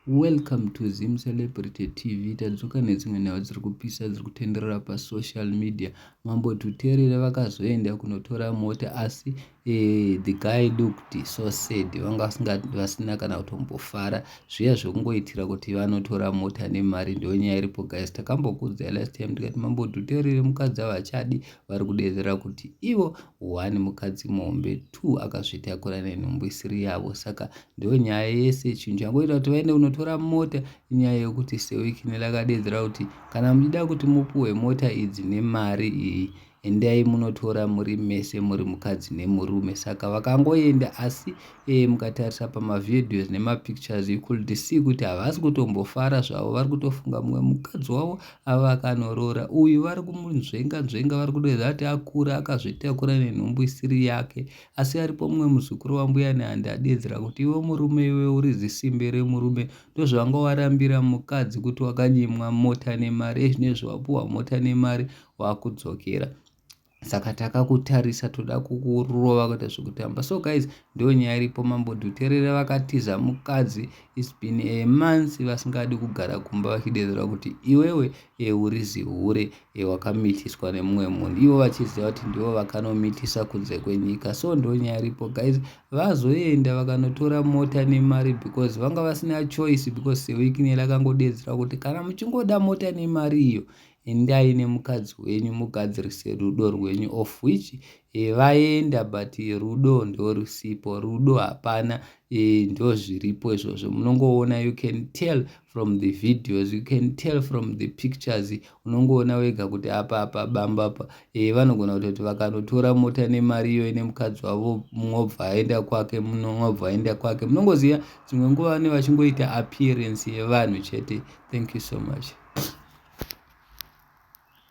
Welcome to Zim Celebrity TV tadzoka nedzimwe nhau dziri kupisa dziri kutenderera pasocial media mambo tuterere vakazoenda kunotora mota asi eh, the guy looked so sad vanga vasina kana kutombofara zviya zvekungoitira kuti vanotora mota nemari ndiyo nyaya iripo guys takambokudzai last time tikati mambo tuterere mukadzi havachadi vari kudedzera kuti ivo one mukadzi muhombe two akazvitakura nenhumbu isiri yavo saka ndo nyaya yese chinhu changoita kuti vaende kunotora mota inyaya yekuti sewikine lakadeedzera kuti kana muchida kuti mupuhwe mota idzi nemari iyi endai munotora muri mese muri mukadzi nemurume saka vakangoenda asi e mukatarisa pamavideos nemapictures you could see kuti havasi kutombofara zvavo vari kutofunga mumwe mukadzi wavo ava akanorora uyu vari kumunzvenga nzvenga vari kutoedza kuti akura akazvitakura nenhumbu isiri yake asi aripo mumwe muzukuru wambuya nehandi adeedzera kuti iwe murume iwe uri zisimbe remurume ndozvanga warambira mukadzi kuti wakanyimwa mota nemari ezvinezvi wapuhwa mota nemari wakudzokera saka takakutarisa toda kukurova kuita zvekutamba so guys ndo nyaya iripo mambo dhuterere vakatiza mukadzi is been a month vasingadi kugara kumba vachidedzera kuti iwewe e uri zihure e wakamitiswa nemumwe munhu ivo vachiziva kuti ndivo vakanomitisa kunze kwenyika so ndo nyaya iripo guys vazoenda vakanotora mota nemari because vanga vasina choice because sewekinel akangodedzera kuti kana muchingoda mota nemari iyo endai nemukadzi wenyu mugadzirise rudo rwenyu of which eh, vaenda but rudo ndorusipo rudo hapana eh, ndozviripo izvozvo munongoona you can tell from the videos you can tell from the pictures unongoona wega kuti apa apa bamba apa eh, vanogona kutoti vakanotora mota nemari iyoyo nemukadzi wavo mungobva aenda kwake mungobva aenda kwake munongoziva dzimwe nguva vane vachingoita appearance yevanhu chete thank you so much